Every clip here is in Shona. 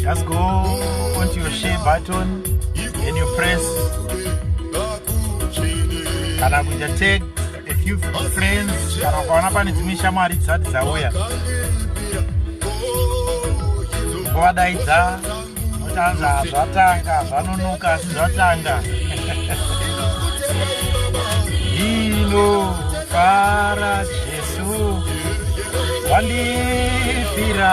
Just go onto your share button and you press kana kuita tag a few friends kana ukaona pane dzimwe shamwari dzisati dzauya wadaidza otanza hazvatanga zvanonoka asi zvatanga hino fara jesu wandifira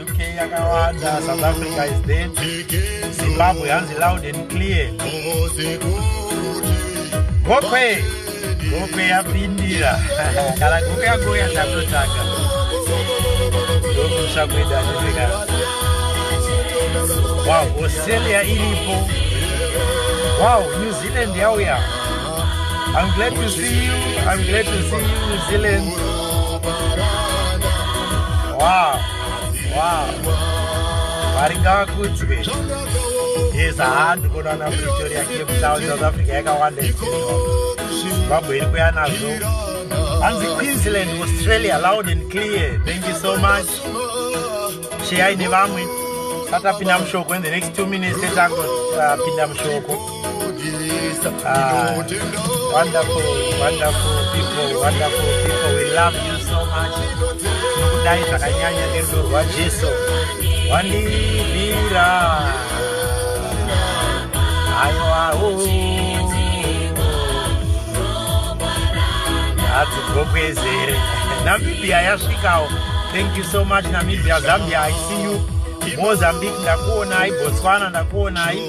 UK yakawanda, South Africa is dead. Zimbabwe hanzi loud and clear. Gokwe! Gokwe yapindira. Kana gokwe yako yatakutsvaga. Ndokusha kuita zvivika. Wow, Australia iripo. Wow, New Zealand yauya. I'm glad to see you. I'm glad to see you, New Zealand. Wow. Wow. Varika kudzwe. Yes, handi kuna na Pretoria Cape Town, South Africa yakawanda. Zimbabwe iri kuya nazvo. Hanzi Queensland, Australia, loud and clear. Thank you so much. Sheyai nevamwe. Tatapinda mushoko in the next two minutes tetangopinda uh, mushoko. Ah, wonderful, wonderful people, wonderful people. We love you so much. Nokudai zvakanyanya nerudo rwaJesu. Wandibira. Aiwa, oh. Hadzi gokwezere. Namibia yasvikawo. Thank you so much Namibia, Zambia, I see you. Mozambique ndakuonai, Botswana ndakuonai.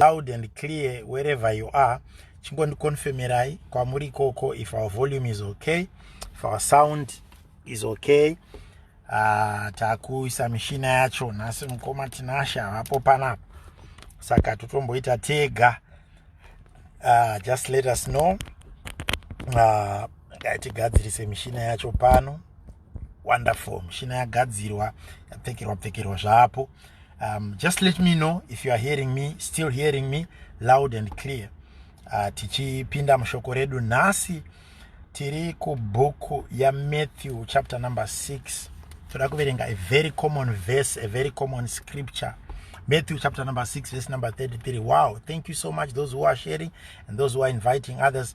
loud and clear wherever you are chingondiconfirmerai kwamuri ikoko if our volume is okay if our sound is okay uh, takuisa mishina yacho nhasi mukoma tinasha havapo panapa saka totomboita tega uh, just let us know uh, ah, tigadzirise mishina yacho pano wonderful mushina yagadzirwa yapfekerwa pfekerwa zvaapo um, just let me know if you are hearing me still hearing me loud and clear uh, tichipinda mushoko redu nhasi tiri kubhuku yamatthew chapter number 6 toda kuverenga a very common verse a very common scripture Matthew chapter number 6, verse number 33. Wow. Thank you so much, those who are sharing and those who are inviting others.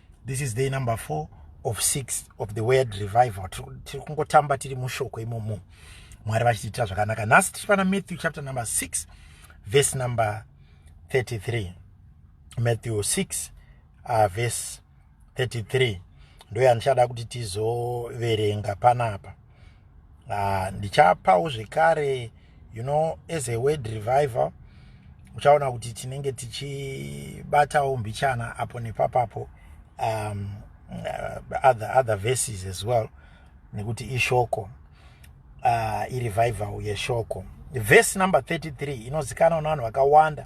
this is day number four of six of the word revival tiri kungotamba tiri mushoko imomo mwari vachitiitira zvakanaka nhasi tiri pana matthew chapter number six verse number 33 matthew 6 uh, verse 33 ndoya ndichada kuti tizoverenga panapa uh, ndichapawo zvekare you know as a word revival uchaona kuti tinenge tichibatawo mbichana apo nepapapo um, uh, other, other verses as well nekuti ishoko uh, irevival yeshoko verse number 33 inozikanwa nevanhu vakawanda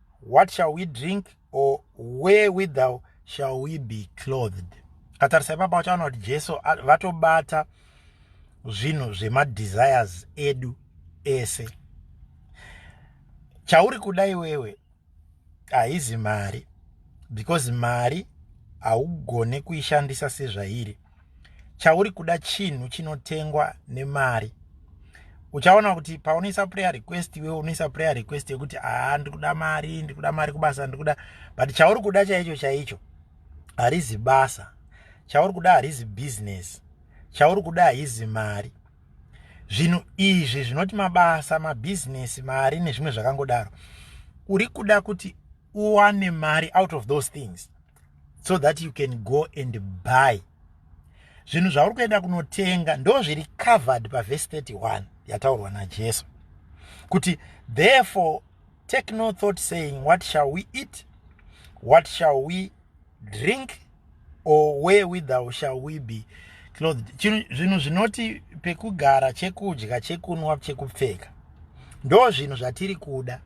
what shall we drink or where withou shall we be clothed katarisa ipapa uchaona kuti jesu vatobata zvinhu zvemadesires edu ese chauri kuda iwewe haizi mari because mari haugone kuishandisa sezvairi chauri kuda chinhu chinotengwa nemari uchaona kuti paunoisa prayer request iwe unoisa prayer request yekuti aa ah, ndiri kuda mari ndiri kuda mari kubasa ndiri kuda but chauri kuda chaicho chaicho harizi basa chauri kuda harizi business chauri kuda haizi mari zvinhu izvi zvinoti mabasa mabhizinesi mari nezvimwe zvakangodaro uri kuda kuti uwane mari out of those things so that you can go and buy zvinhu zvauri kuenda kunotenga ndo zviri covered pavhesi 31 yataurwa najesu kuti therefore take no thought saying what shall we eat what shall we drink or where withou shall we be clothed zvinhu zvinoti pekugara chekudya chekunwa chekupfeka ndo zvinhu zvatiri kuda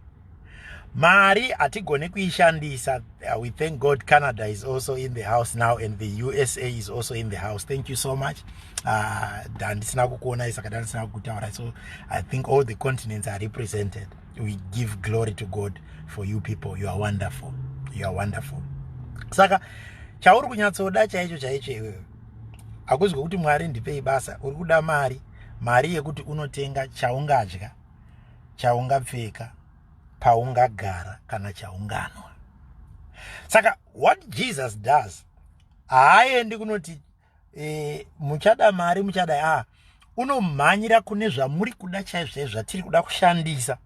mari hatigone kuishandisa uh, we thank god canada is also in the house now and the usa is also in the house thank you so much uh, handisina kukuonai saka dandisina kukutaura so i think all the continents are represented we give glory to god for you people you are wonderful you are wonderful saka chauri kunyatsoda chaicho chaicho iwewe hakuzi kwekuti mwari ndipei basa uri kuda mari mari yekuti unotenga chaungadya chaungapfeka paungagara kana chaunganwa saka what jesus does haaendi kunoti e, muchada mari muchada a ah, unomhanyira kune zvamuri kuda chaizvozvo zvatiri kuda kushandisa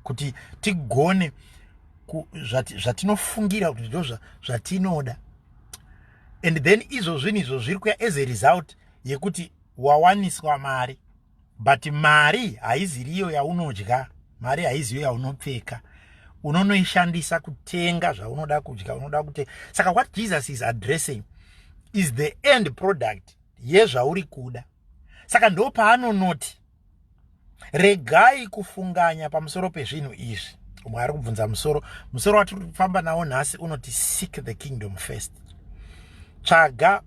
kuti tigone zvatinofungira kuti ndo zvatinoda and then izvo zvinhu izvo zviri kuya as a result yekuti wawaniswa mari but mari haiziriyo yaunodya mari haiziyo yaunopfeka unonoishandisa kutenga zvaunoda kudya unoda kute saka what jesus is addressing is the end product yezvauri kuda saka ndo paanonoti regai kufunganya pamusoro pezvinhu izvi umwe ari kubvunza musoro musoro watiri kufamba nawo nhasi unoti seek the kingdom first tsvaga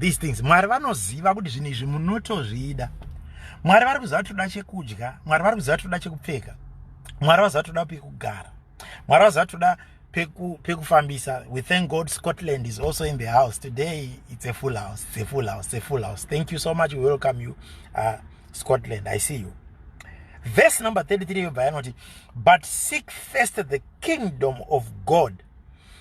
these things mwari vanoziva kuti zvinhu izvi munotozvida mwari vari kuziva toda chekudya mwari vari kuziva toda chekupfeka mwari vaziva toda pekugara mwari vaziva toda pekufambisa we thank god scotland is also in the house today it's a full house it's a full house it's a full house thank you so much we welcome you uh, scotland i see you verse number 33 yobva yanoti but seek first the kingdom of god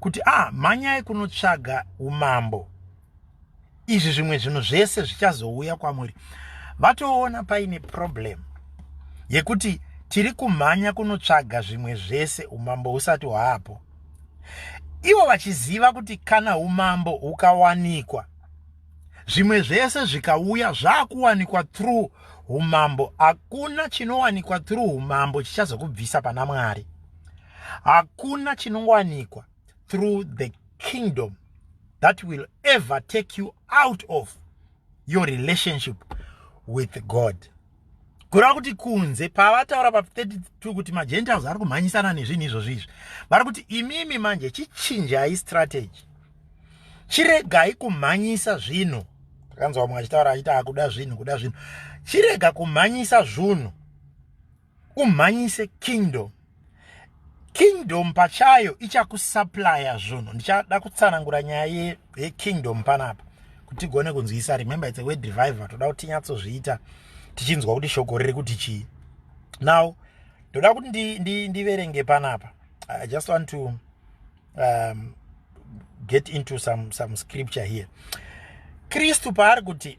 kuti ah mhanyai kunotsvaga umambo izvi zvimwe zvinhu zvese zvichazouya kwamuri vatoona paine problem yekuti tiri kumhanya kunotsvaga zvimwe zvese umambo husati hwaapo ivo vachiziva kuti kana umambo hukawanikwa zvimwe zvese zvikauya zvaakuwanikwa through umambo hakuna chinowanikwa through umambo chichazokubvisa pana mwari hakuna chinongowanikwa through the kingdom that will ever take you out of your relationship with god kureva kuti kunze pavataura pa 32 kuti magentiles ari kumhanyisana nezvinhu izvozvo izvi vari kuti imimi manje chichinjai strategy chiregai kumhanyisa zvinhu takanzwa vamwe achitaura achiti akuda zvinhu kuda zvinhu chirega kumhanyisa zvunhu umhanyise kingdom kingdom pachayo ichakusuplya zvunhu ndichada kutsanangura nyaya yekingdom panapa kuti tigone kunzwisa remember its a word reviver toda kuti tinyatsozviita tichinzwa kuti shoko riri kuti chii now ndoda kuti ndiverenge ndi, ndi, ndi panapa i just want to um, get into some, some scripture here kristu paari kuti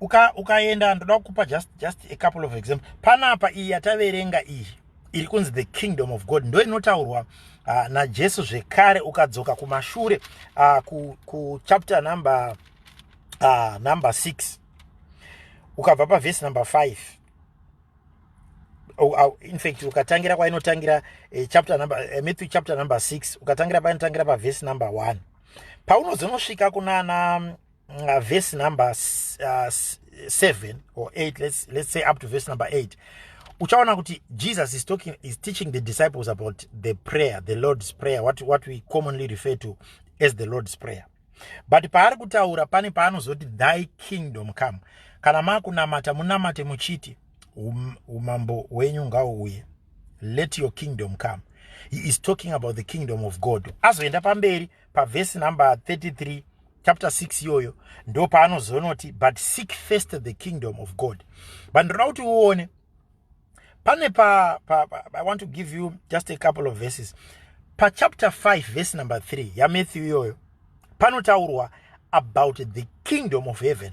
uka ukaenda ndoda kukupa just just a couple of example panapa iyi yataverenga iyi iri kunzi the kingdom of god ndo inotaurwa uh, najesu zvekare ukadzoka kumashure uh, ku, ku chapter number uh, number 6 ukabva pavhesi number 5 Oh, oh, in fact ukatangira kwainotangira eh, chapter number eh, matthew chapter number 6 ukatangira painotangira pavhesi number 1 paunozonosvika kunana uh, verse number uh, seven or eight let's, let's say up to verse number eight uchaona kuti jesus is talking is teaching the disciples about the prayer the lord's prayer what, what we commonly refer to as the lord's prayer but paari kutaura pane paanozoti thy kingdom come kana makunamata munamate muchiti um, umambo wenyu ngauuye let your kingdom come he is talking about the kingdom of god azoenda pamberi pavhesi number 33 chapter 6 iyoyo ndo paanozonoti but seek first the kingdom of god but ndinoda kuti uone pane pa, pa, pa i want to give you just a couple of verses pachapter 5 vhesi number 3 yamatthew iyoyo panotaurwa about the kingdom of heaven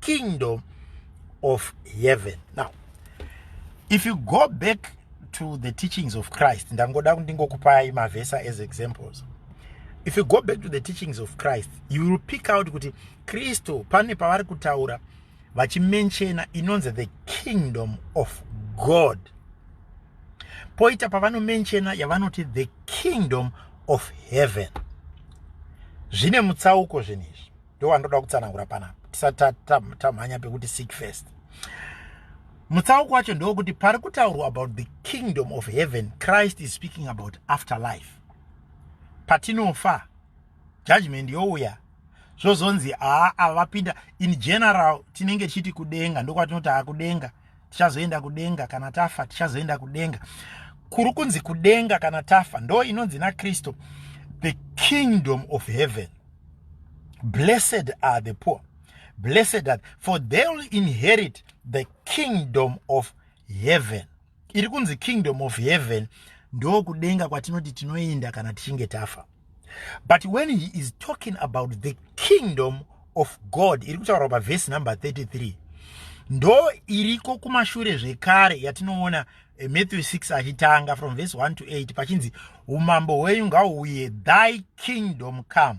kingdom of heaven now if you go back to the teachings of christ ndangoda ndingokupai mavhesa as examples if you go back to the teachings of christ you will pick out kuti kristu pane pavari kutaura vachimenchena inonzi the kingdom of god poita pavanomenchena yavanoti the kingdom of heaven zvine mutsauko zvinhu izvi ndowandinoda kutsanangura panapa tisati tamhanya pekuti seek first mutsauko wacho ndewokuti pari kutaurwa about the kingdom of heaven christ is speaking about after life patinofa judgment youya zvozonzi haa ava vapinda in general tinenge tichiti kudenga ndokwatinoti haa kudenga tichazoenda kudenga kana tafa tichazoenda kudenga kuri kunzi kudenga kana tafa ndo inonzi nakristu the kingdom of heaven blessed are the poor blessed are for they will inherit the kingdom of heaven iri kunzi kingdom of heaven ndokudenga kwatinoti tinoenda kana tichinge tafa but when he is talking about the kingdom of god iri kutaurwa pavhesi number 33 ndo iriko kumashure zvekare yatinoona eh, matthew 6 achitanga from vhesi 1 to 8 pachinzi umambo hwenyu ngauuye thy kingdom come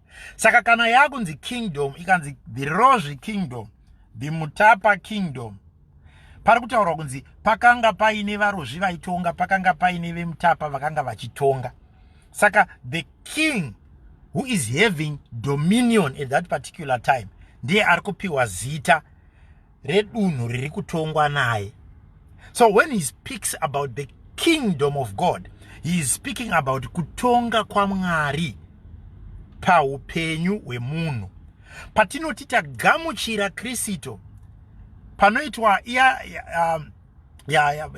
saka kana yakunzi kingdom ikanzi dhirozvi kingdom dhimutapa kingdom pari kutaurwa kunzi pakanga paine varozvi vaitonga pakanga paine vemutapa vakanga vachitonga saka the king who is having dominion at that particular time ndiye ari kupiwa zita redunhu riri kutongwa naye so when he speaks about the kingdom of god he is speaking about kutonga kwamwari paupenyu hwemunhu patinoti tagamuchira kristu panoitwa iya um, yeah, yeah,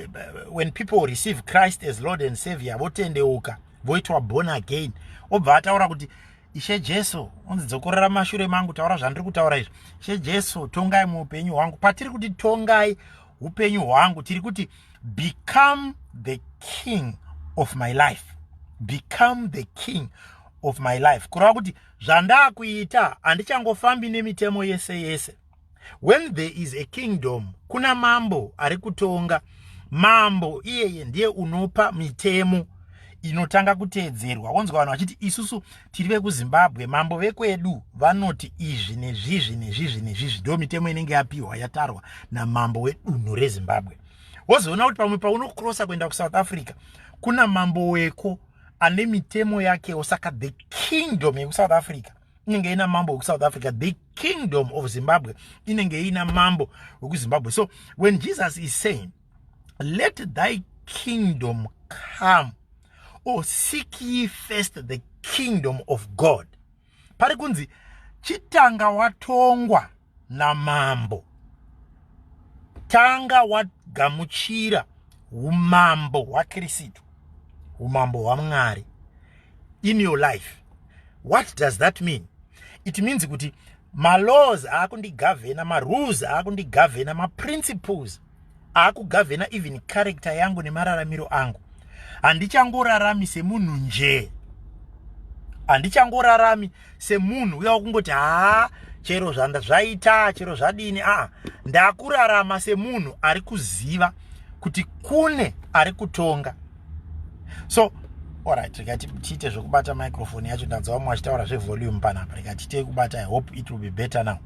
when people receive christ as lord and savior votendeuka voitwa born again obva ataura kuti ishe jesu unzi dzokorera mashure mangu taura zvandiri kutaura izvi ishe jesu tongai muupenyu hwangu patiri kuti tongai upenyu hwangu tiri kuti become the king of my life become the king of my life kureva kuti zvandaakuita handichangofambi nemitemo yese yese when there is a kingdom kuna mambo ari kutonga mambo iyeye ndiye unopa mitemo inotanga kuteedzerwa wonzwa vanhu vachiti isusu tiri vekuzimbabwe mambo vekwedu vanoti izvi nezvizvi nezvizvi nezvizvi ndo mitemo inenge yapiwa yatarwa namambo wedunhu rezimbabwe wozoona kuti pamwe paunokrosa kuenda kusouth africa kuna mambo weko ane mitemo yakewo saka the kingdom yekusouth africa inenge ina mambo wekusouth africa the kingdom of zimbabwe inenge ina mambo wekuzimbabwe so when jesus is saying let thy kingdom come or seek ye first the kingdom of god pari kunzi chitanga watongwa namambo tanga wagamuchira umambo hwakristu umambo hwamwari in your life what does that mean it means kuti malaws aakundigavhena marules aakundigavhena maprinciples akugavhena even character yangu nemararamiro angu handichangorarami semunhu njee handichangorarami semunhu uya wakungoti haa chero zvanda zvaita chero zvadini aa ndakurarama semunhu ari kuziva kuti kune ari kutonga so orit rikati tiite zvekubata microfoni yacho ndanzwa vamwe vachitaura zvevolume panapa rikati tei kubata i hope it will be better now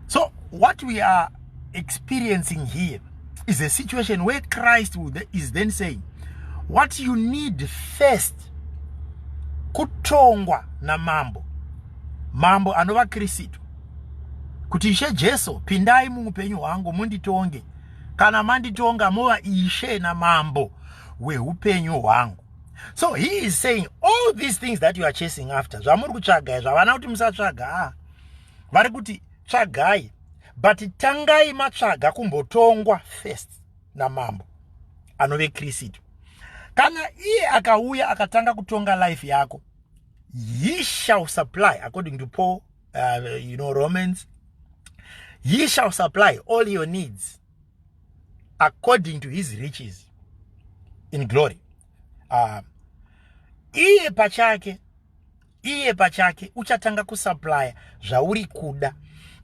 So what we are experiencing here is a situation where Christ is then saying what you need first kutongwa na mambo mambo anova Kristu kuti ishe Jesu pindai muupenyu hwangu munditonge kana manditonga mova ishe na mambo wehupenyu hwangu so he is saying all these things that you are chasing after zvamuri kutsvaga zvavana kuti musatsvaga ah vari kuti tsvagai but tangai matsvaga kumbotongwa first namambo anove kristu kana iye akauya akatanga kutonga life yako he shall supply according to paul uh, you know romans he shall supply all your needs according to his riches in glory uh, iye pachake iye pachake uchatanga kusuplya zvauri kuda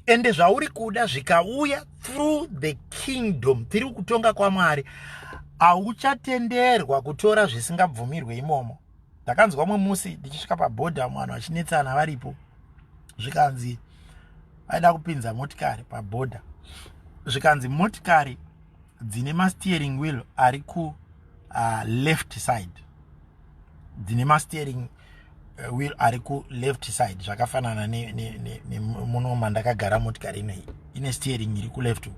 ende zvauri kuda zvikauya through the kingdom tiri kutonga kwamwari hauchatenderwa kutora zvisingabvumirwe imomo ndakanzwa mwe musi ndichisvika pabhodha vamwe vanhu vachinetsana varipo zvikanzi vaida kupinza motikari pabhodha zvikanzi motikari dzine masteering wheel ari ku uh, left side dzine masteering eh, will ari ku left side zvakafanana nemuno mandakagara motikari inoi ine steering iri kuleft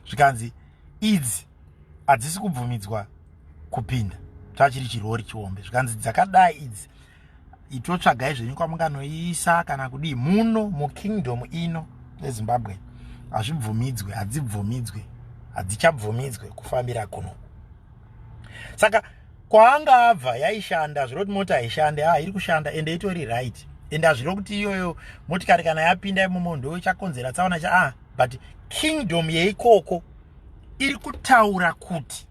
zvikanzi idzi hadzisi kubvumidzwa kupinda tachiri chirori chihombe zvikanzi dzakadai idzi itotsvagai zvenyu kwamunganoiisa kana kudii muno mukingdom ino ezimbabwe hazvibvumidzwe hadzibvumidzwe hadzichabvumidzwe kufambira kuno saka kwaanga abva yaishanda zvirova kuti mota haishande ha ah, iri kushanda ende itori right ende hazvirova kuti iyoyo motikari kana yapinda imomo ndo chakonzera tsaona cha ah but kingdom yeikoko iri kutaura kuti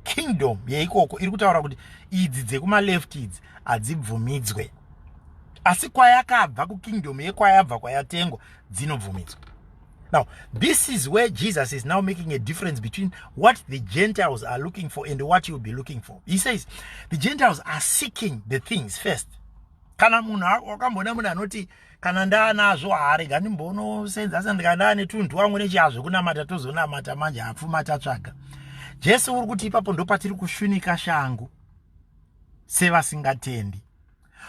kingdom yeikoko iri kutaura kuti idzi dzekumaleft idzi hadzibvumidzwe asi kwayakabva kukingdom yekwayabva kwayatengwa dzinobvumidzwa Now, this is where Jesus is now making a difference between what the Gentiles are looking for and what you'll be looking for. He says, the Gentiles are seeking the things first. Kana munhu wakamboona munhu anoti kana ndaanazvo haarega ndimbonosenza asi ndikandaa netunhu wangu nechiazvo kunamata tozonamata manje hapfuma tatsvaga jesu uri kuti ipapo ndopatiri kushunika shangu sevasingatendi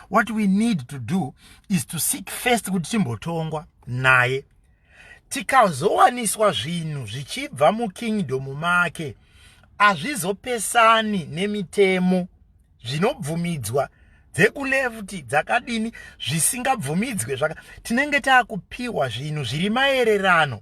what we need to do is to seek first kuti timbotongwa naye tikazowaniswa zvinhu zvichibva mukingdom make hazvizopesani nemitemo zvinobvumidzwa dzekulevti dzakadini zvisingabvumidzwe zvaka tinenge taakupiwa zvinhu zviri maererano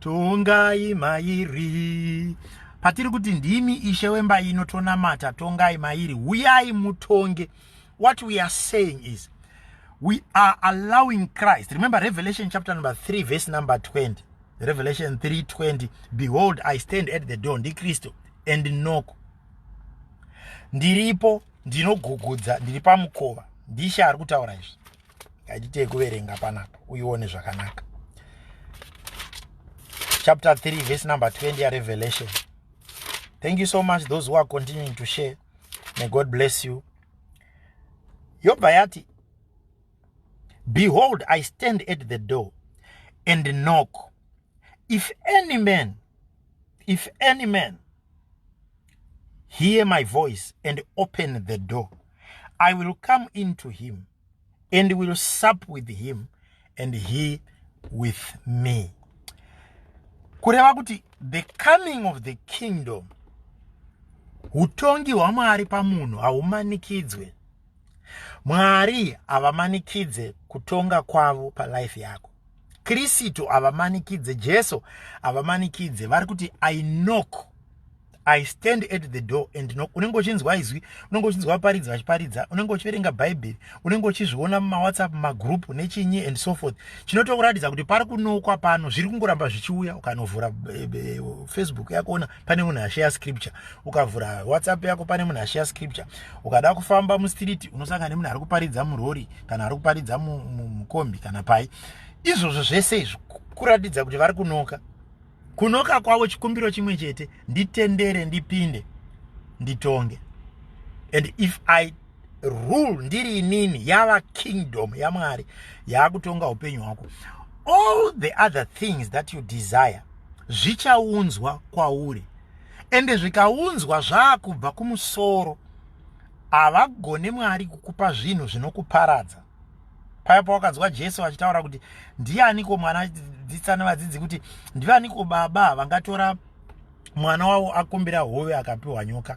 Tongai mairi patiri kuti ndimi ishe wemba ino tonamata tongai mairi huyai mutonge what we are saying is we are allowing christ remember revelation chapter number 3 verse number 20 revelation 3 20 behold i stand at the door ndikristu and knock ndiripo ndinogugudza ndiri pamukova ndishe ari kutaura izvi ngatiitei kuverenga panapa uione zvakanaka chapter 3 verse number 20 yarevelation thank you so much those who are continuing to share may god bless you yobva yati behold i stand at the door and knock if any man if any man hear my voice and open the door i will come into him and will sup with him and he with me kureva kuti the coming of the kingdom utongi hwamwari pamunhu haumanikidzwe mwari havamanikidze kutonga kwavo palife yako Kristu havamanikidze, Jesu havamanikidze, vari kuti I knock I stand at the door and knock. Unenge uchinzwa izwi, unenge uchinzwa vaparidzi vachiparidza, unenge uchiverenga Bhaibheri, unenge uchizviona mumawhatsapp, magroup nechinyi and so forth. Chinotokuratidza kuti pari kunokwa pano, zviri kungoramba zvichiuya, ukanovhura eh, eh, Facebook yakuona pane munhu ashare scripture ukavhura whatsapp yako pane munhu ashare scripture ukada kufamba mustreet unosangana nemunhu ari kuparidza murori kana ari kuparidza mukombi kana pai izvozvo zvese izvi kuratidza kuti vari kunoka kunoka kwavo chikumbiro chimwe chete nditendere ndipinde nditonge and if i rule ndiri inini yava kingdom yamwari yaakutonga upenyu hwako all the other things that you desire zvichaunzwa kwauri ende zvikaunzwa zvaakubva kumusoro havagone mwari kukupa zvinhu zvinokuparadza paya pawakanzwa jesu vachitaura kuti ndianiko mwana dzitsana vadzidzi kuti ndivaniko baba vangatora mwana wavo akumbira hove akapiwa nyoka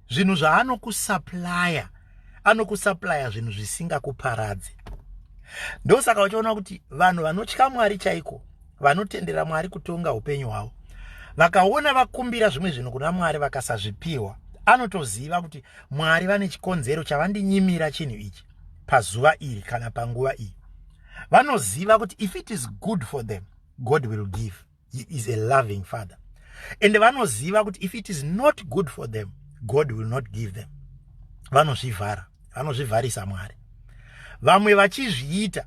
zvinhu zvaanokusaplaya anokusaplaya zvinhu zvisingakuparadze ndosaka uchiona kuti vanhu vanotya mwari chaiko vanotendera mwari kutonga upenyu hwavo vakaona vakumbira zvimwe zvinhu kuna mwari vakasazvipiwa anotoziva kuti mwari vane chikonzero chavandinyimira chinhu ichi pazuva iri kana panguva iyi vanoziva kuti if it is good for them god will give he is a loving father and vanoziva kuti if it is not good for them god will not give them vanozvivhara vanozvivharisa mwari vamwe vachizviita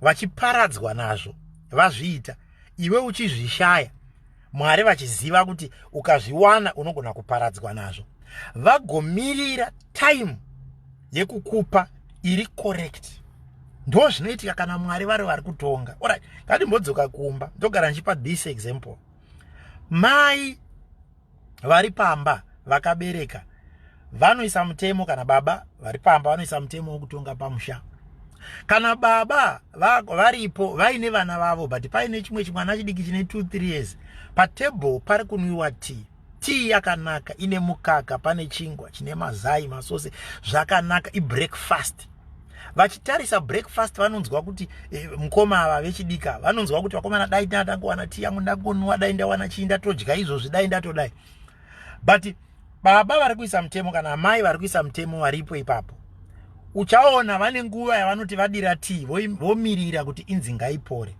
vachiparadzwa nazvo vazviita iwe uchizvishaya mwari vachiziva kuti ukazviwana unogona kuparadzwa nazvo vagomirira time yekukupa iri correct ndo zvinoitika kana mwari vari vari kutonga orit ngatimbodzoka kumba ndogara ndichipa this example mai vari pamba vakabereka vanoisa mutemo kana baba vari pamba vanoisa mutemo wekutonga pamusha kana baba varipo vaine vana vavo but paine chimwe chimwana chidiki chine 23 years patable pari kunwiwa tea tii yakanaka ine mukaka pane chingwa chine mazai masose zvakanaka ibreakfast vachitarisa breakfast vanonzwa kuti eh, mukoma ava vechidika vanonzwa kuti vakomana dai ndatangowana tii yangu ndagonwa dai ndawana chii ndatodya izvozvi dai ndatodai but baba vari kuisa mutemo kana amai vari kuisa mutemo varipo ipapo uchaona vane nguva yavanoti vadira tii vomirira kuti inzi ngaipore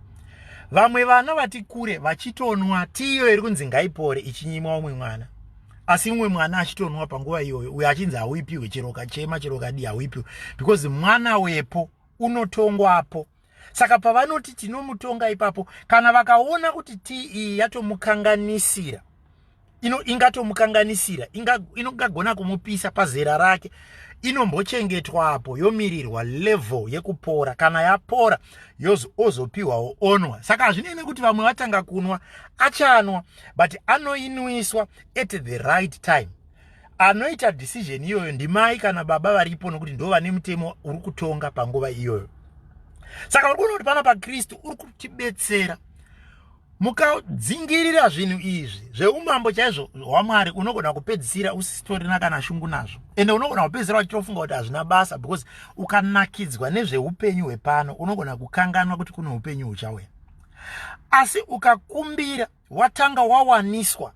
vamwe vana vati kure vachitonwa tiyo iri kunzi ngaipore ichinyimwa umwe mwana asi umwe mwana achitonwa panguva iyoyo uyo achinzi hauipiwe chiroka chema chiroka di hauipiwe because mwana wepo unotongwapo saka pavanoti tinomutonga ipapo kana vakaona kuti tii yatomukanganisira ino ingatomukanganisira ingagona kumupisa pazera rake inombochengetwapo yomirirwa level yekupora kana yapora ozopiwawo onwa saka hazvinei nekuti vamwe vatanga kunwa achanwa but anoinwiswa at the right time anoita decision iyoyo ndimai kana baba varipo nokuti ndo vane mutemo uri kutonga panguva iyoyo saka uri kuona kuti pana pakristu uri kutibetsera mukadzingirira zvinhu izvi zveumambo chaizvo hwamwari unogona kupedzisira usitorina kana shungu nazvo ende unogona kupedzisira wachitofunga kuti hazvina basa because ukanakidzwa nezveupenyu hwepano unogona kukanganwa kuti kune upenyu huchauya asi ukakumbira watanga wawaniswa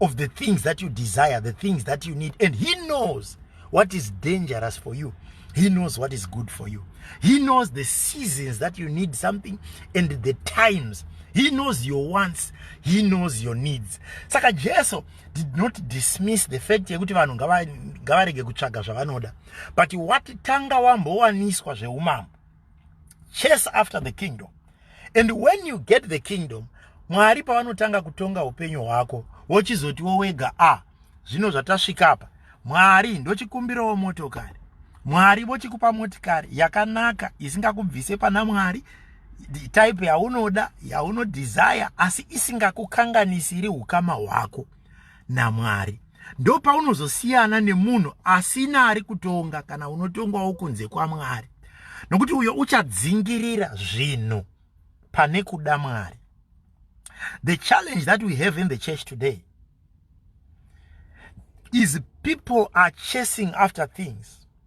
of the things that you desire the things that you need and he knows what is dangerous for you he knows what is good for you he knows the seasons that you need something and the times he knows your wants he knows your needs saka jesu did not dismiss the fact yekuti vanhu ngavarege kutsvaga zvavanoda but wati tanga wambowaniswa zveumambo chase after the kingdom and when you get the kingdom mwari pavanotanga kutonga upenyu hwako wochizotiwo wega a ah, zvino zvatasvika apa mwari ndochikumbirawo motokari mwari vochikupa motikari yakanaka isingakubvise pana mwari type yaunoda yaunodesire asi isingakukanganisiri ukama hwako ya naMwari ndopaunozosiyana nemunhu asina ari kutonga kana unotongawo kunze kwaMwari nokuti uyo uchadzingirira zvinhu pane kuda Mwari the challenge that we have in the church today is people are chasing after things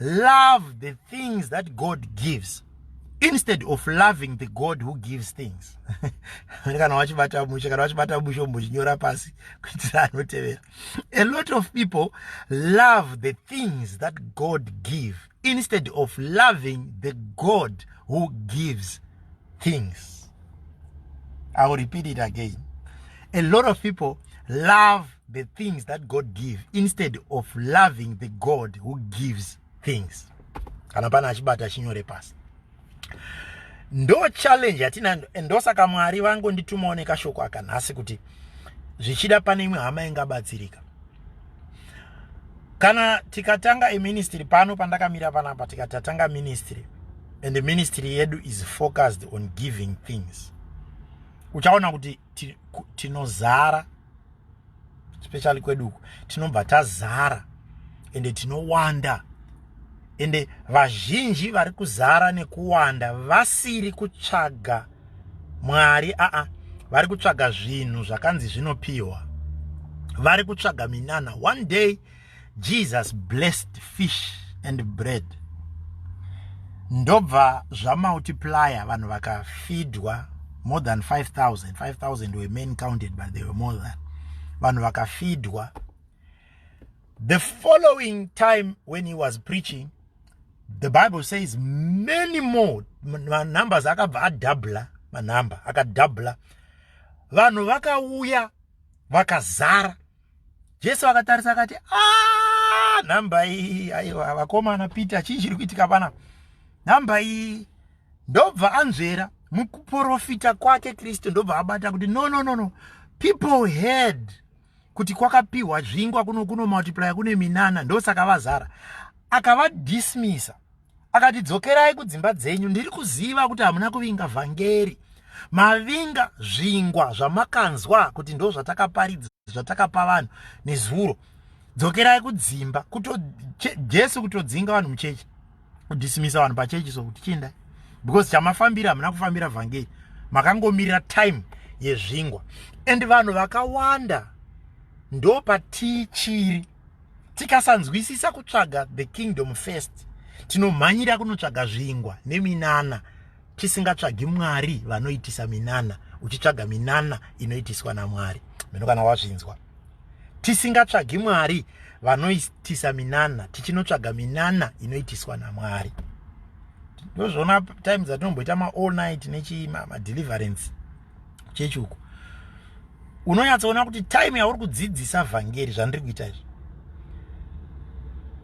love the things that god gives instead of loving the god who gives things kana wachibata mushe kana wachibata mushe umbochinyora pasi kuitira anotevera a lot of people love the things that god give instead of loving the god who gives things i will repeat it again a lot of people love the things that god give instead of loving the god who gives things kana pana achibata achinyore pasi ndo challenge yatina ndosaka mwari vangu nditumawo nekashoko aka nhasi kuti zvichida pane imwe hama ingabatsirika kana tikatanga eministry pano pandakamira panapa tikatatanga ministry and the ministry yedu is focused on giving things uchaona kuti tinozara ti, especially kwedu uku tinobva tazara ende tinowanda ende vazhinji vari kuzara nekuwanda vasiri kutsvaga mwari aa vari kutsvaga zvinhu zvakanzi zvinopiwa vari kutsvaga minana one day Jesus blessed fish and bread ndobva zvamultiplier vanhu vakafidwa more than 5000 5000 were men counted but they were more than vanhu vakafidwa the following time when he was preaching the bible says many more manumbers akabva adabla manumber akadabla vanhu vakauya vakazara Jesu akatarisa akati ah, nhamba iyi aiwa vakomana Peter chii chiri kuitika pana nhamba iyi ndobva anzvera mukuprofita kwake Kristu ndobva abata kuti no no no no people heard kuti kwakapiwa zvingwa kuno kuno multiplier kune minana ndosaka vazara akavadismisa akati dzokerai kudzimba dzenyu ndiri kuziva kuti hamuna kuvinga vhangeri mavinga zvingwa zvamakanzwa kuti ndo zvatakaparidza zvatakapa vanhu nezuro dzokerai kudzimba kuto jesu kutodzinga vanhu muchechi kudhisimisa vanhu pachechi so kuti chiindai because chamafambira hamuna kufambira vhangeri makangomirira time yezvingwa and vanhu vakawanda ndopatichiri tikasanzwisisa kutsvaga the kingdom first tinomhanyira kunotsvaga zvingwa neminana tisingatsvagi mwari vanoitisa minana uchitsvaga minana inoitiswa namwari mino kana wazvinzwa tisingatsvagi mwari vanoitisa minana tichinotsvaga minana inoitiswa namwari ndozvona time dzatinomboita maall night nechii madeliverance ma chechi uko unonyatsoona kuti time yauri kudzidzisa vhangeri zvandiri kuita izvi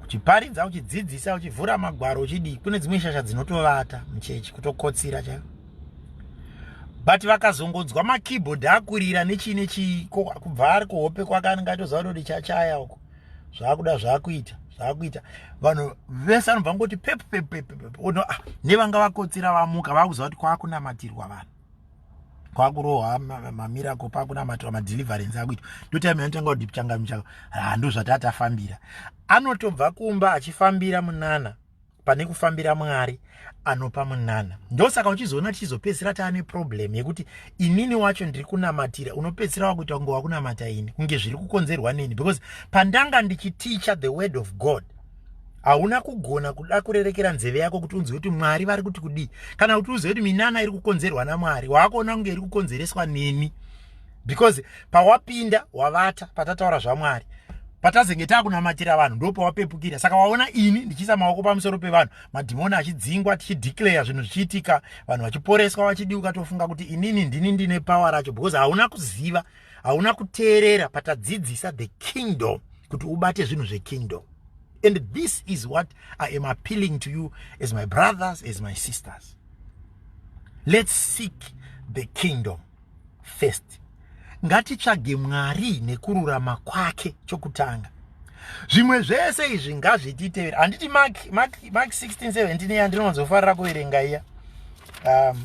uchiparidza uchidzidzisa uchivhura magwaro uchidii kune dzimwe shasha dzinotovata muchechi kutokotsira chaio but vakazongonzwa makeyboard akurira nechii nechii kubva ari kuhope kwake anenge aitoziva kuti ndichachaya uko zvaakuda zvaakuita zvaakuita vanhu vese anobva ngoti pepu pepu pepu pepu ah, nevanga vakotsira vamuka vaakuziva kuti kwakunamatirwa vanhu kwakurohwa mamirako pakunamatiwa madeliverance akuitwa ndotime yanotanga kuti changamu chako hando zvatatafambira anotobva kumba achifambira munana pane kufambira mwari anopa munana ndosaka uchizoona tichizopedzisira taane problem yekuti inini wacho ndiri kunamatira unopedzisira wakuita kunge wakunamata ini kunge zviri kukonzerwa neni because pandanga ndichiticha the word of god hauna kugona kuda kurerekera nzeve yako kuti unzwe kuti mwari vari kuti kudii kana kuti uzive kuti minana iri kukonzerwa namwari waakuona kunge iri kukonzereswa neni because pawapinda wavata patataura zvamwari patazenge takunamatira vanhu ndo pawapepukira saka waona ini ndichiisa maoko pamusoro pevanhu madhimoni achidzingwa tichideclare zvinhu zvichiitika vanhu vachiporeswa vachidiuka tofunga kuti inini ndini ndine power racho because hauna kuziva hauna kuteerera patadzidzisa the kingdom kuti ubate zvinhu zvekingdom and this is what i am appealing to you as my brothers as my sisters let's seek the kingdom first ngatitsvage mwari nekururama kwake chokutanga zvimwe zvese izvi ngazvititevera handiti mak 1617 yandinonzofarira kuverenga iya um,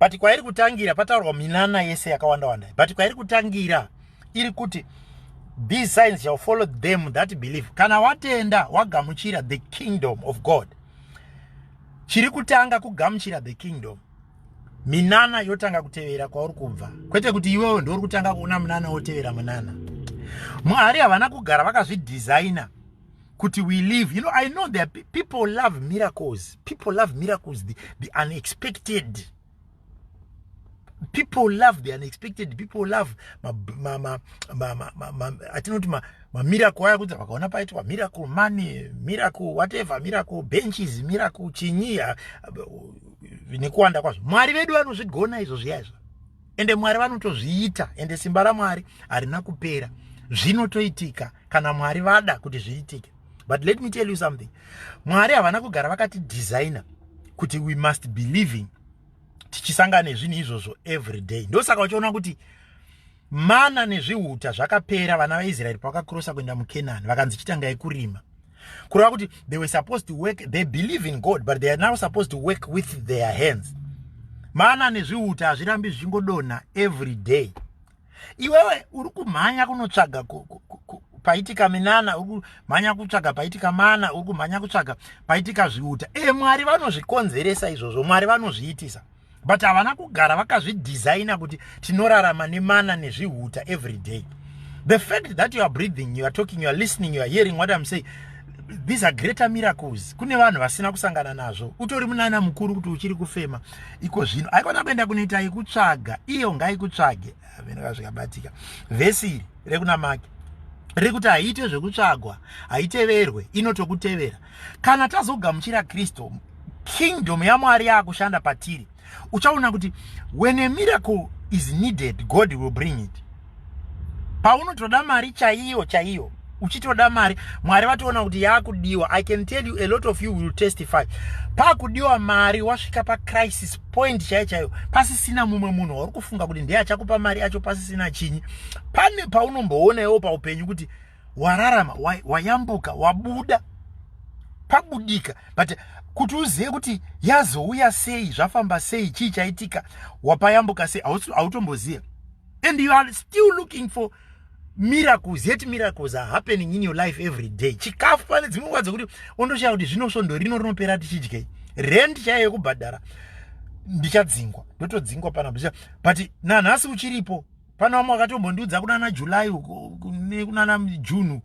but kwairi kutangira pataurwa minana yese yakawanda wanda but kwairi kutangira iri kuti these signs shall follow them that believe kana watenda wagamuchira the kingdom of god chiri kutanga kugamuchira the kingdom minana yotanga kutevera kwauri kubva kwete kuti iwewe ndiuri kutanga kuona munana wotevera munana mwari havana kugara vakazvidhizaina kuti we live you know i know there people love miracles people love miracles the, the unexpected people love the unexpected people love atinoti mamiracle aya kuti vakaona paitwa miracle money miracle whatever miracle benches miracle chinyiya nekuwanda kwazvo mwari vedu vanozvigona izvo zviya izvo ende mwari vanotozviita ende simba ramwari harina kupera zvinotoitika kana mwari vada kuti zviitike but let me tell you something mwari havana kugara vakati designer kuti we must be living tichisangana nezvinhu izvozvo every day ndosaka uchiona kuti mana nezvihuta zvakapera vana vaisraeri pavakakrosa kuenda mukenani vakanzi chitangai kurima kureva kuti they were supposed to work they believe in god but they are now supposed to work with their hands mana nezviuta hazvirambi zvichingodonha every day iwewe uri kumhanya kunotsvaga paitika minana uri kumhanya kutsvaga paitika mana uri kumhanya kutsvaga paitika zviuta e mwari vanozvikonzeresa izvozvo mwari vanozviitisa but havana kugara vakazvidhizaina kuti tinorarama nemana nezvihuta every day the fact that you are breathing you are talking you are listening you are hearing what im saying these are greater miracles kune vanhu vasina kusangana nazvo utori munana mukuru kuti uchiri kufema iko zvino aikona kuenda kunoita ikutsvaga iyo ngaikutsvage venaka zvikabatika vhesi iri rekuna maki riri kuti haiite zvekutsvagwa haiteverwe inotokutevera kana tazogamuchira kristu kingdom yamwari yaakushanda patiri uchaona kuti when a miracle is needed god will bring it paunotoda mari chaiyo chaiyo uchitoda mari mwari vatoona kuti yakudiwa i can tell you a lot of you will testify pakudiwa mari wasvika pacrisis point chaiyo chaiyo pasisina mumwe munhu wauri kufunga kuti ndiye achakupa mari acho pasisina chinyi pane paunomboona iwo paupenyu kuti wararama wayambuka wabuda pabudika but kuti uzive kuti yazouya sei zvafamba sei chii chaitika wapayambuka sei hautomboziva and you are still looking for miracles yet miracles are happening in your life every day chikafu pane dzimwe nguva dzekuti ondoshaya kuti zvino svondo rino rinopera tichidyei rend chaiyo yekubhadhara ndichadzingwa ndotodzingwa pana but nanhasi uchiripo pana vamwe vakatombondiudza kunana july nekunana june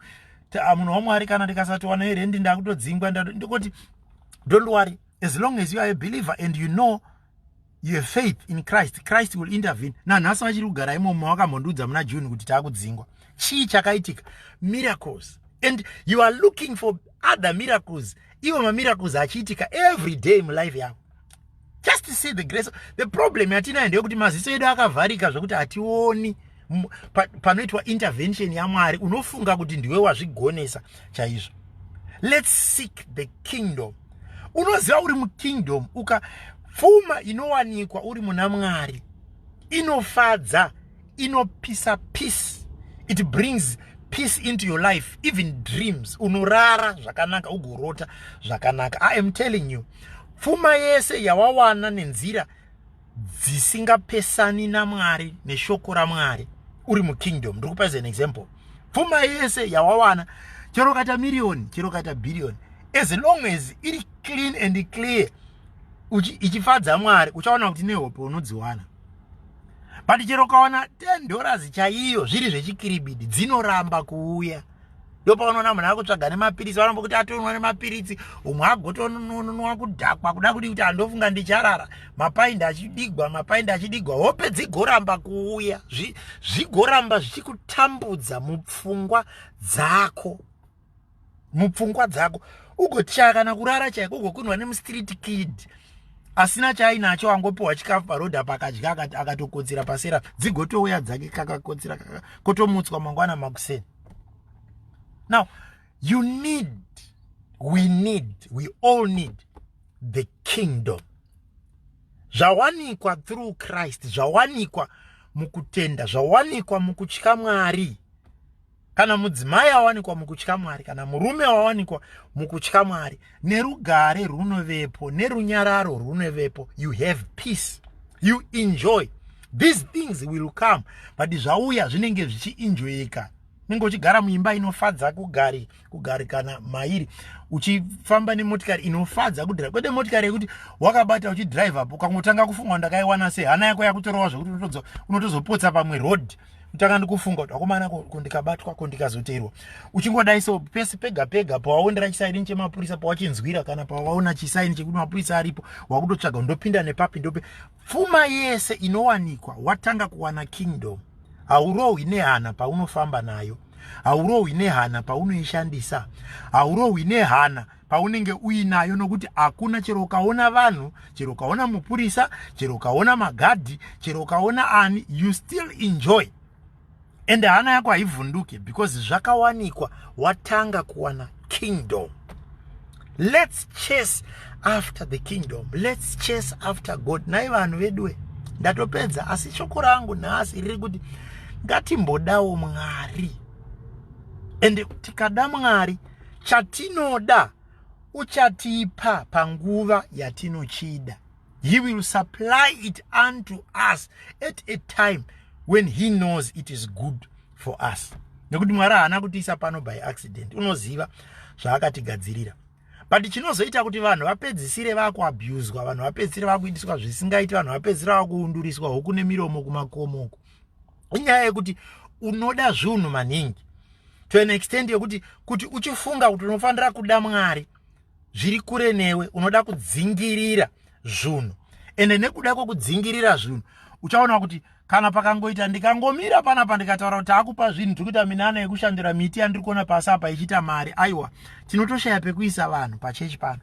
ah, munhu wamwari kana ndikasatowana irendi ndakutodzingwa ndikoti don't worry as long as you are a believer and you know you have faith in christ christ will intervene nanhasi vachiri kugara imomo wakamhondiudza muna june kuti taakudzingwa chii chakaitika miracles and you are looking for other miracles ivo mamiracles achiitika every day mulife yavo just see the grace the problem yatinayo ndeyekuti maziso edu akavharika zvekuti hationi panoitwa pa intervention yamwari unofunga kuti ndiwe wazvigonesa chaizvo let's seek the kingdom unoziva uri mukingdom uka pfuma inowanikwa uri muna mwari inofadza inopisa peace it brings peace into your life even dreams unorara zvakanaka ugorota zvakanaka i am telling you pfuma yese yawawana nenzira dzisingapesani naMwari neshoko raMwari uri mukingdom ndiri kupa as an example pfuma yese yawawana chero ukaita miriyoni chero ukaita bhiriyoni as long as iri clean and clear ichifadza mwari uchaona kuti nehope unodziwana but chero ukawana 10 dollars chaiyo zviri zvechikiribidi dzinoramba kuuya ndopaunoona munhu akutsvaga nemapiritsi vanombo kuti atonwa nemapiritsi umwe agotonunwa kudhakwa kuda kudi kuti andofunga ndicharara mapaindi achidigwa mapaindi achidigwa hope dzigoramba kuuya zvigoramba zvichikutambudza mupfungwa dzako mupfungwa dzako ugotyaya kana kurara chaiko ugokunwa nemustriti kid asina chaainacho angopiwa chikafu paroad apa akadya akatokotsira pasera dzigotouya dzake kakakotsira kaka kotomutswa mangwana makuseni now you need we need we all need the kingdom zvawanikwa through christ zvawanikwa mukutenda zvawanikwa mukutya mwari kana mudzimai awanikwa mukutya mwari kana murume awanikwa mukutya mwari nerugare runovepo nerunyararo runovepo you have peace you enjoy these things will come but zvauya zvinenge zvichiinjoyeka unenge uchigara muimba inofadza kugari kugarikana mairi uchifamba nemotikari inofadza kudrive kwete motikari yekuti wakabata uchidrive apo ukangotanga kufunga ndakaiwana sei hana yako yakutorova zvekuti unotozopotsa pamwe road kutanga ndikufunga kuti akomana ko ndikabatwa ko ndikazoteerwa uchingodai so pese pega pega pawaonera chisaini chemapurisa pawachinzwira kana pawaona chisaini chekuti mapurisa aripo wakutotsvaga ndopinda nepapi ndope pfuma yese inowanikwa watanga kuwana kingdom haurohwi nehana paunofamba nayo haurohwi nehana paunoishandisa haurohwi nehana paunenge uinayo nokuti hakuna chero ukaona vanhu chero ukaona mupurisa chero ukaona magadhi chero ukaona ani you still enjoy ende hana yako haivhunduke because zvakawanikwa watanga kuwana kingdom let's chase after the kingdom let's chase after god nai vanhu veduwe ndatopedza asi shoko rangu nhasi riri kuti ngatimbodawo mwari ende tikada mwari Chatinoda uchatipa panguva yatinochida. He will supply it unto us at a time when he knows it is good for us. Nekuti Mwari haana kutiisa pano by accident. Unoziva zvaakatigadzirira. But chinozoita kuti vanhu vapedzisire vakuabuswa, vanhu vapedzisire vakuitiswa zvisingaiti, vanhu vapedzisire vakuunduriswa hoku nemiromo kumakomoko. inyaya yekuti unoda zvinhu maningi to an extent yekuti kuti uchifunga kuti unofanira kuda mwari zviri kure newe unoda kudzingirira zvinhu ende nekuda kwekudzingirira zvinhu uchaona kuti kana pakangoita ndikangomira panapa ndikataura kuti akupa zvinhu tiri kuita minana yekushandira miti yandiri kuona pasi apa ichiita mari aiwa tinotoshaya pekuisa vanhu pachechi pano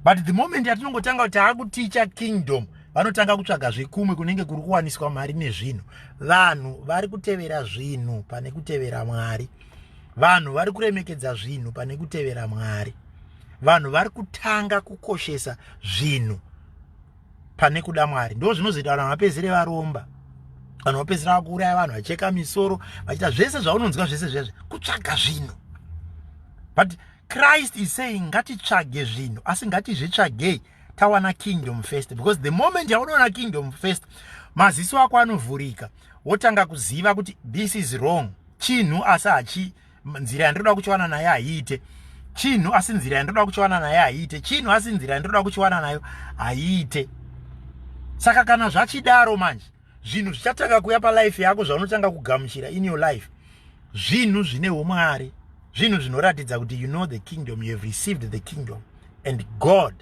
but the moment yatinongotanga kuti taakuticha kingdom vanotanga kutsvaga zvekumwe kunenge kuri kuwaniswa mari nezvinhu vanhu vari kutevera zvinhu pane kutevera mwari vanhu vari kuremekedza zvinhu pane kutevera mwari vanhu vari kutanga kukoshesa zvinhu pane kuda mwari ndo zvinozoita vanhu vapedzere varomba vanhu vapedzera vakuuraya vanhu vacheka misoro vachiita zvese zvaunonzwa zvese zvezve kutsvaga zvinhu but christ is saying ngatitsvage zvinhu asi ngatizvitsvagei tawana kingdom first because the moment yaunoona kingdom first maziso ako anovhurika wotanga kuziva kuti this is wrong chinhu asi hachi nzira yandinoda kuchiwana nayo haiite chinhu asi nzira yandinoda kuchiwana nayo haiite chinhu asi nzira yandinoda kuchiwana nayo haiite saka kana zvachidaro manje zvinhu zvichatanga kuya palife yako zvaunotanga kugamuchira in your life zvinhu zvine umwari zvinhu zvinoratidza kuti you know the kingdom you have received the kingdom and god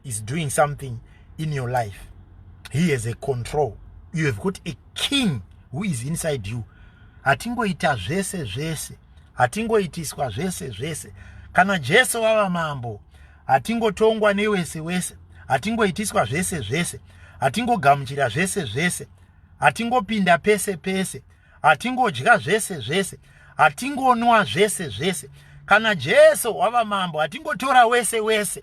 is doing something in your life he has a control you have got a king who is inside you hatingoita zvese zvese hatingoitiswa zvese zvese kana jesu vava mambo hatingotongwa newese wese hatingoitiswa zvese zvese hatingogamuchira zvese zvese hatingopinda pese pese hatingodya zvese zvese hatingonwa zvese zvese kana jesu wava mambo hatingotora wese wese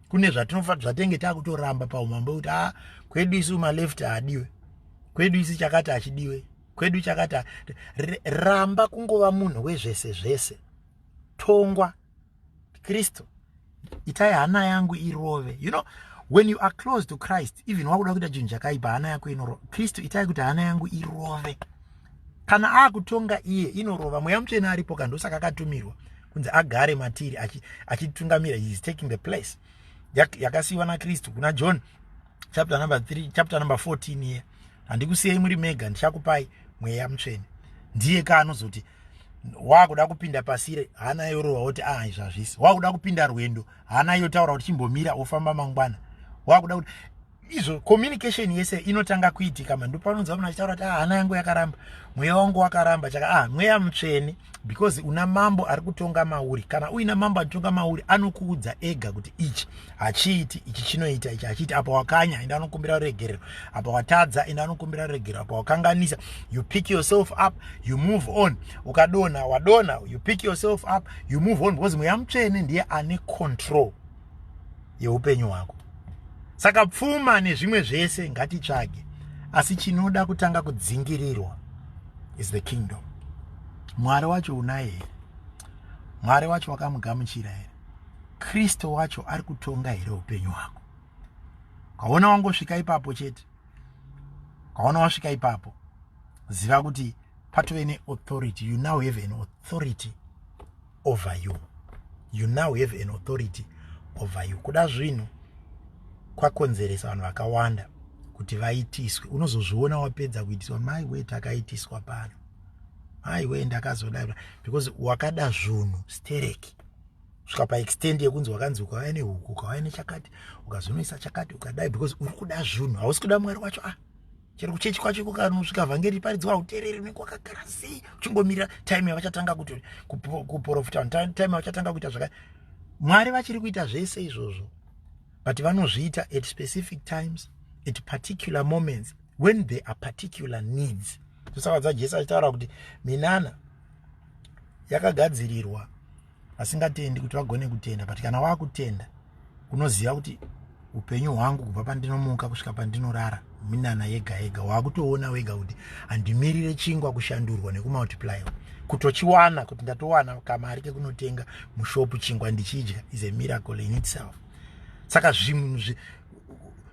kune zvatinofanira zvatenge takutoramba paumambo kuti a ah, kwedu isu maleft haadiwe kwedu isu chakati hachidiwe kwedu chakati ramba kungova munhu wezvese zvese tongwa kristu itai hana yangu irove you know when you are close to christ even wakuda kuita chinhu chakaipa hana yako inoro kristu itai kuti hana yangu irove kana akutonga iye inorova mweya mutsvene aripo ka ndosaka akatumirwa kunzi agare matiri achitungamira achi he is taking the place yakasiyiwa nakristu kuna john chapter number 3 chapter number 14 iye handikusiyei muri mega ndichakupai mweya mutsvene ndiye ka anozoti wakuda kupinda pasire hana yorova woti a ah, izvazvisi wakuda kupinda rwendo hana yotaura kuti chimbomira wofamba mangwana wakuda kuti izvo communication yese inotanga kuitika mhandu panonzwa munhu achitaura kuti ah, hana yangu yakaramba mweya wangu wakaramba chaka ah mweya mutsvene because una mambo ari kutonga mauri kana uina mambo anotonga mauri anokuudza ega kuti ichi hachiiti ichi chinoita ichi hachiiti apa wakanya enda anokumbira ruregerero apa watadza enda anokumbira ruregerero apa wakanganisa you pick yourself up you move on ukadona wadona you pick yourself up you move on because mweya mutsvene ndiye ane control yeupenyu hwako saka pfuma nezvimwe zvese ngatitsvage asi chinoda kutanga kudzingirirwa is the kingdom mwari wacho unaye here mwari wacho wakamugamuchira here kristu wacho ari kutonga here upenyu hwako kaona wangosvika ipapo chete kaona wasvika ipapo ziva kuti patove neauthority you now have an authority over you you now have an authority over you kuda zvinhu kwakonzeresa vanhu vakawanda kuti vaitiswe unozozviona wapedza kuitiswa mai wee takaitiswa pano mai wee ndakazoda because wakada zvunhu stereki svika paextend yekunzi wakanzi ukauya nehuku ukauya nechakati ukazonoisa chakati ukadai because uri kuda zvunhu hausi kuda mwari wacho ah chero kuchechi kwacho iko kanosvika vhangeri riparidzwa hautereri unenge wakagara sei uchingomira time yavachatanga kuti kuprofita vanhu time yavachatanga kuita zvaka mwari vachiri kuita zvese izvozvo but vanozviita at specific times at particular moments when there are particular needs saka dzajesu achitaura kuti minana yakagadzirirwa vasingatendi kuti vagone kutenda but kana wakutenda unoziva kuti upenyu hwangu kubva pandinomuka kusvika pandinorara minana yega yega wakutoona wega kuti handimirire chingwa kushandurwa nekumultiplyiwa kutochiwana kuti ndatowana kamari kekunotenga mushopu chingwa ndichidya is a miracle in itself saka zvinhu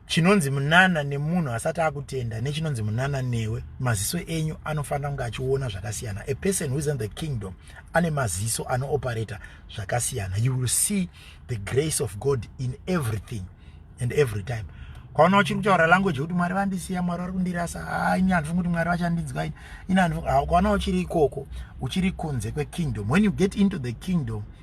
chinonzi munana nemunhu asati akutenda nechinonzi munana newe maziso enyu anofanira kunge achiona zvakasiyana a person who is in the kingdom ane maziso anooperata zvakasiyana you will see the grace of god in everything and every time kwaona uchiri kutaura language yekuti mwari vandisiya mwari vari kundirasa ah, ini handifungi kuti mwari vachandinzwa ini ini handifungi ah, kwaona uchiri ikoko uchiri kunze kwekingdom when you get into the kingdom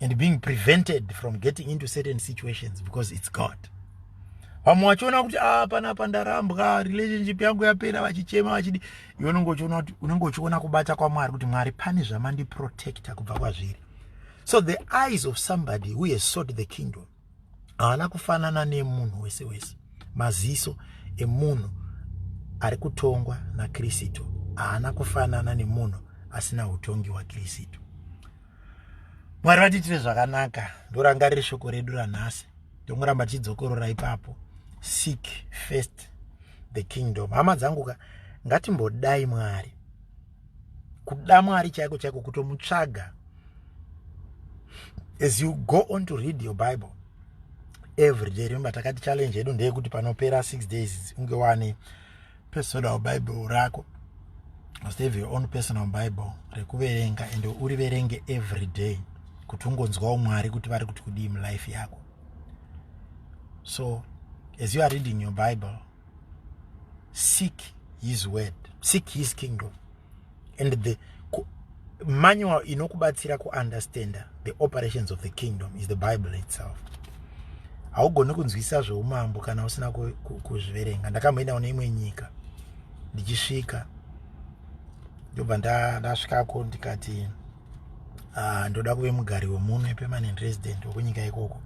and being prevented from getting into certain situations because it's god vamwe vachiona kuti ah, pana apa ndarambwa relationship yangu yapera vachichema vachidi iwe unenge uchiona kuti unenge uchiona kubata kwamwari kuti mwari pane zvamandiprotecta kubva kwazviri so the eyes of somebody who has sought the kingdom haana kufanana nemunhu wese wese maziso emunhu ari kutongwa nakristu haana kufanana nemunhu asina utongi wakristu mwari vatiitire zvakanaka ndorangarire shoko redu ranhasi ndongoramba tichidzokorora ipapo seek first the kingdom hama dzangu ka ngatimbodai mwari kuda mwari chaiko chaiko kutomutsvaga as you go on to read your bible every day remember takati challenge yedu ndeyekuti panopera six days unge wane personal bible rako must have your own personal bible rekuverenga and uriverenge every day kuti ungonzwawo mwari kuti vari kuti kudii mulife yako so as you are reading your bible seek his word seek his kingdom and the manual inokubatsira kuunderstanda the operations of the kingdom is the bible itself haugoni kunzwisisa zveumambo kana usina kuzviverenga ndakamboenda kune imwe nyika ndichisvika ndobva ndasvikako ndikati uh, ndoda kuve mugari wemuno epermanent resident wekunyika ikoko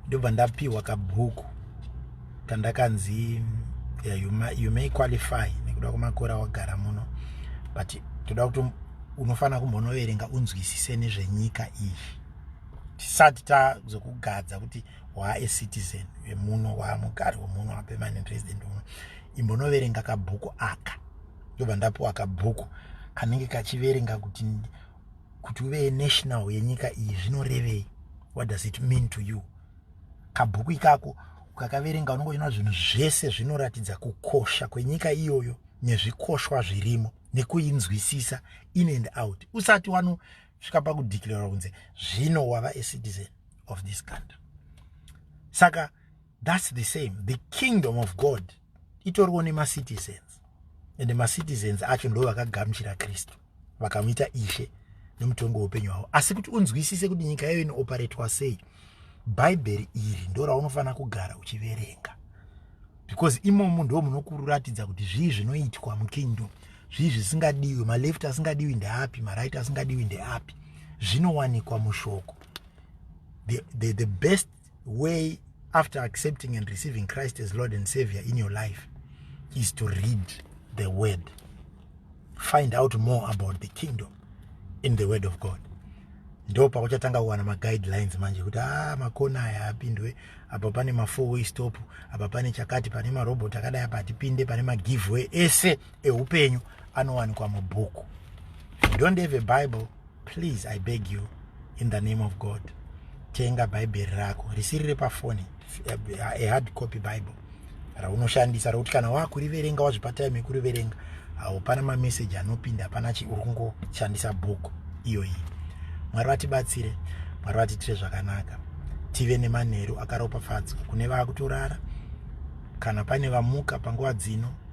ndobva ndapiwa kabhuku kandakanzi yeah, you, may, you may qualify nekuda kwemakore awagara muno but toda kuti unofanira kumbonoverenga unzwisise nezvenyika iyi tisati tazokugadza kuti wae citizen wemuno waamugari wemuno wapermanent resident uno imbonoverenga kabhuku aka ndobva ndapuwa kabhuku kanenge kachiverenga kuti kuti uve national yenyika iyi zvinorevei what does it mean to you kabhuku ikako ukakaverenga unonge uchinoona zvinhu zvese zvinoratidza kukosha kwenyika iyoyo nezvikoshwa zvirimo nekuinzwisisa in and out usati wanosvika pakudeclara kunze zvino wava acitizen of this country saka that's the same the kingdom of god itoriwo nemacitizens and macitizens acho ndo vakagamuchira kristu vakamuita ishe nemutongo weupenyu hwavo asi kuti unzwisise kuti nyika yayo inooperatwa sei bhaibheri iri ndo raunofanira kugara uchiverenga because imomo ndo munokuratidza kuti zvii zvinoitwa mukingdom zvii zvisingadiwi maleft asingadiwi ndeapi maright asingadiwi ndeapi zvinowanikwa mushoko the, the, the best way after accepting and receiving christ as lord and savior in your life is to read the word find out more about the kingdom in the word of god ndo pakuchatanga kuwana maguidelines manje kuti a ah, makona aya apindwe apa pane mafour way stop apa pane chakati pane marobot akadai apa hatipinde pane magiveaway ese ehupenyu anowanikwa mubhuku you don't have a bible please i beg you in the name of god tenga bhaibheri rako risiri repafoni a hard copy bible raunoshandisa rokuti kana wakuriverenga wazvipatai mekuriverenga haupana mameseji anopinda hapana chi uri kungoshandisa bhuku iyoyi mwari vatibatsire mwari vatiitire zvakanaka tive nemanheru akaropafadzwa kune vaakutorara kana pane vamuka panguva dzino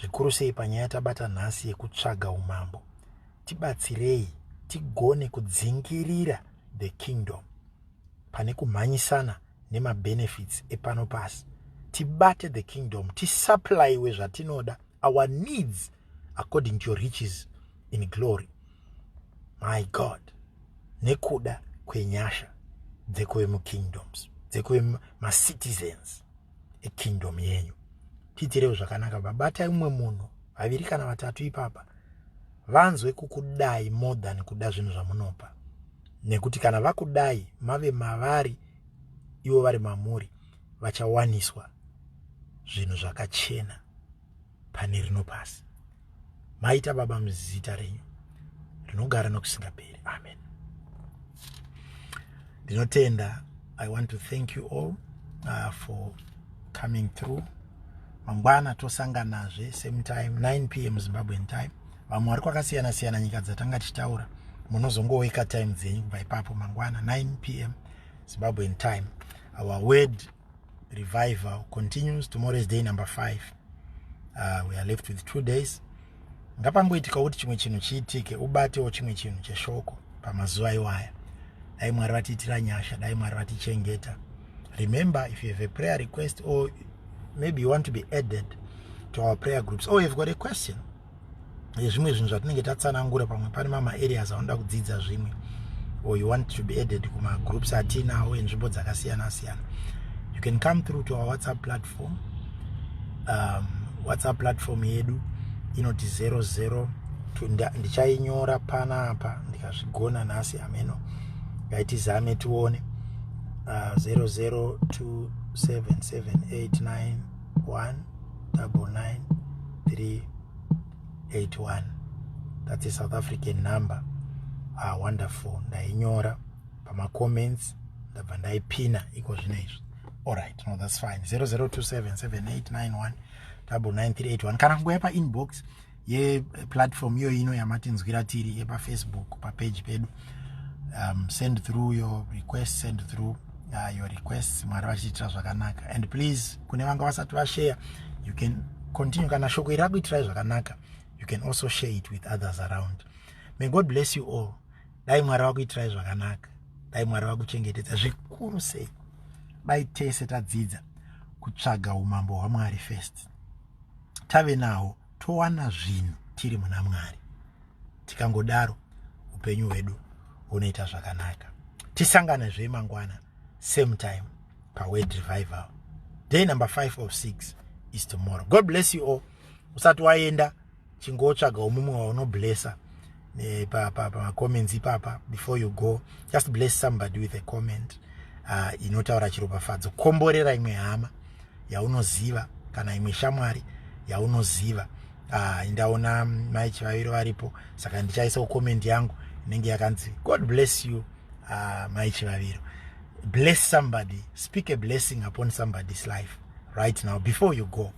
zvikuru sei panyaya tabata nhasi yekutsvaga umambo tibatsirei tigone kudzingirira the kingdom pane kumhanyisana nemabenefits epano pasi tibate the kingdom tisupplyiwe zvatinoda our needs according to your riches in glory my god nekuda kwenyasha dzekuve mukingdoms dzekuve macitizens ekingdom yenyu tiitirewo zvakanaka babatai umwe munhu vaviri kana vatatu ipapa vanzwe kukudai more than kuda zvinhu zvamunopa nekuti kana vakudai mave mavari ivo vari mamuri vachawaniswa zvinhu zvakachena pane rino pasi maita baba muzita renyu rinogara nokusingaperi amen ndinotenda i want to thank you all uh, for coming through mangwana tosanganazve same time 9 p m zimbabwean time vamwe vari kwakasiyana siyana nyika dzatanga tichitaura munozongoweka time dzenyu kubva ipapo mangwana 9 p m zimbabwean time our word revival continues tomorrow is day number five uh, we are left with two days ngapangoitika kuti chimwe chinhu chiitike ubatewo chimwe chinhu cheshoko pamazuva iwaya dai mwari vatiitira nyasha dai mwari vatichengeta remember if you have a prayer request or maybe you want to be added to our prayer groups or you've got a question yezvimwe zvinhu zvatinenge tatsanangura pamwe pane mama areas anoda kudzidza zvimwe or you want to be added kumagroups atiinawo enzvimbo dzakasiyana siyana you can come through to our whatsapp platform um, whatsapp platform yedu inoti 00 ndichainyora panapa ndikazvigona nhasi ameno ngaitizame tione uh, 002778 199381 that's a south african number ah wonderful ndainyora pamacomments ndabva ndaipina iko zvino izvi allright no that's fine 00277891 99381 kana kungoya painbox yeplatform iyoyo ino yamatinzwira tiri yepafacebook papeji pedu um, send through your request send through uh, your request mwari vachiitira zvakanaka and please kune vanga vasati vashare you can continue kana shoko iri rakuitirai zvakanaka you can also share it with others around may god bless you all dai mwari vakuitirai zvakanaka dai mwari vakuchengetedza zvikuru sei dai tese tadzidza kutsvaga umambo hwamwari first tave nawo towana zvinhu tiri muna mwari tikangodaro upenyu hwedu hunoita zvakanaka tisangane zve mangwana same time paword revival day number 5 of 6 is tomorrow god bless you all usati waenda chingotsvaga umumwe waunoblessa eh, pa pa pa comments ipapa before you go just bless somebody with a comment uh, inotaura chiropafadzo komborera imwe hama yaunoziva kana imwe shamwari yaunoziva uh, ndaona mai chivaviro varipo saka ndichaisawo comment yangu inenge yakanzi god bless you uh, mai chivaviro bless somebody speak a blessing upon somebody's life right now before you go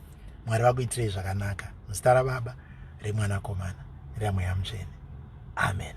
mwari vakuitirei zvakanaka muzita rababa remwanakomana reramweya mutsvene amen